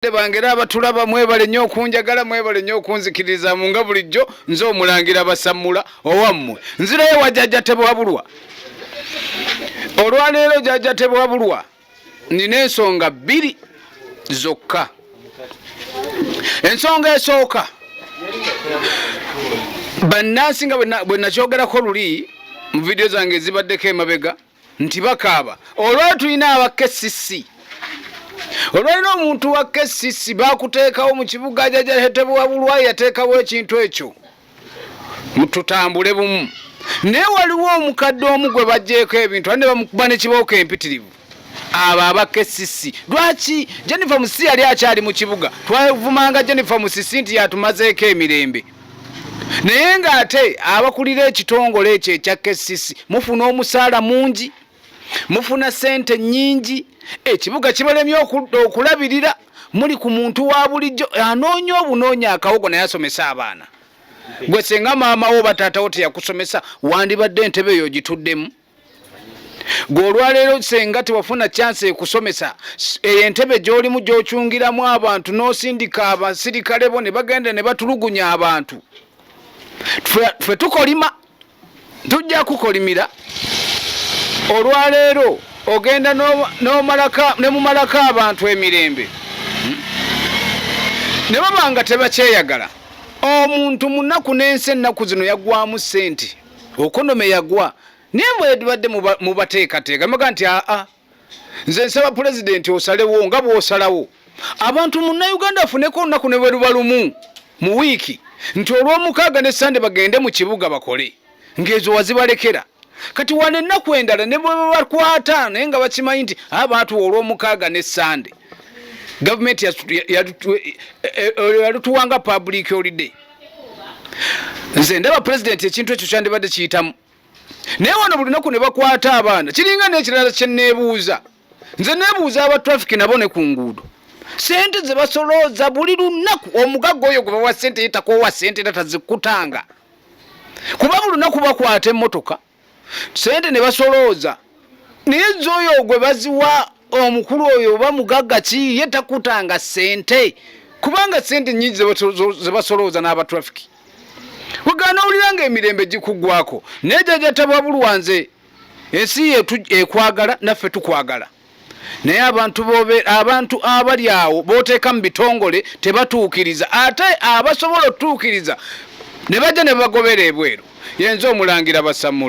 Bazadde bange era abatulaba mwebale nnyo okunjagala mwebale nnyo okunzikiririzaamu nga bulijjo nze omulangira basammula owammwe nzirayo wa jajja tebwabulwa olwaleero jajja tebwabulwa nina ensonga bbiri zokka ensonga esooka bannansi nga bwe nakyogerako luli mu vidiyo zange ezibaddeko emabega nti bakaaba olwali tulina aba kcc olwalina omuntu wa kcc bakuteekawo mu kibuga jajahetebwabulwa yateekawo ekintu ekyo mututambule bumu naye waliwo omukadde omu gwe bajjeeko ebintu ane bamukuba nekibooko empitirivu abo abakesisi lwaki jennifer musisi yali akyali mu kibuga twavumanga jennifer musisi nti yatumazeeko emirembe naye ng'ate abakulira ekitongole ekyo ekya kcc mufuna omusaala mungi mufuna sente nyingi ekibuga kibalemye okulabirira muli ku muntu wa bulijjo anoonya obunoonya akawogo naye asomesa abaana gwe singa maama wo bataatawo teyakusomesa wandibadde entebe eyo ogituddemu gwe olwaleero senga tewafuna kyansi ekusomesa eyo entebe gyolimu gyokyungiramu abantu n'osindika abasirikale bo ne bagenda ne batulugunya abantu fe tukolima tujja kukolimira olwaleero ogenda nemumalako abantu emirembe hmm? ne baba nga tebakyeyagala omuntu munaku n'ensi ennaku zino yagwamu sente okonome yagwa naye mwedibadde mubateekateeka muga nti aa nze nsaba pulezidenti osalewo nga bwosalawo abantu munnauganda afuneko olunaku ne bweruba lumu mu wiiki nti olwomukaaga ne sande bagende mu kibuga bakole ng'ezo wazibalekera kati wane ennaku endala ne bwebabakwata naye nga bakimanyi nti abaatu ah, olwomukaaga ne sande gavumenti yalutuwanga eh, eh, eh, public holiday nze ndaba pulezidenti ekintu ekyo kyandibadde kiyitamu naye wano buli naku ne bakwata abaana kiringa n'ekirala kye neebuuza nze neebuuza aba trafiki nabo ne ku nguudo sente ze basolooza buli lunaku omugagga oyo gwe bawa sente yetakowa sente era tazikutanga kuba buli lunaku bakwata emmotoka sente ne basolooza naye zoyo gwe baziwa omukulu oyo oba mugagga ki ye takutanga sente kubanga sente nyingi zebasolooza n'abatrafiki wegana owulira nga emirembe gikuggwako naye jajatabwabulwa nze ensi yetu ekwagala naffe tukwagala naye abantu bobe abantu abali awo boteeka mu bitongole tebatuukiriza ate abasobola otutuukiriza ne bajja ne bagobeera ebweru yenze omulangira basamula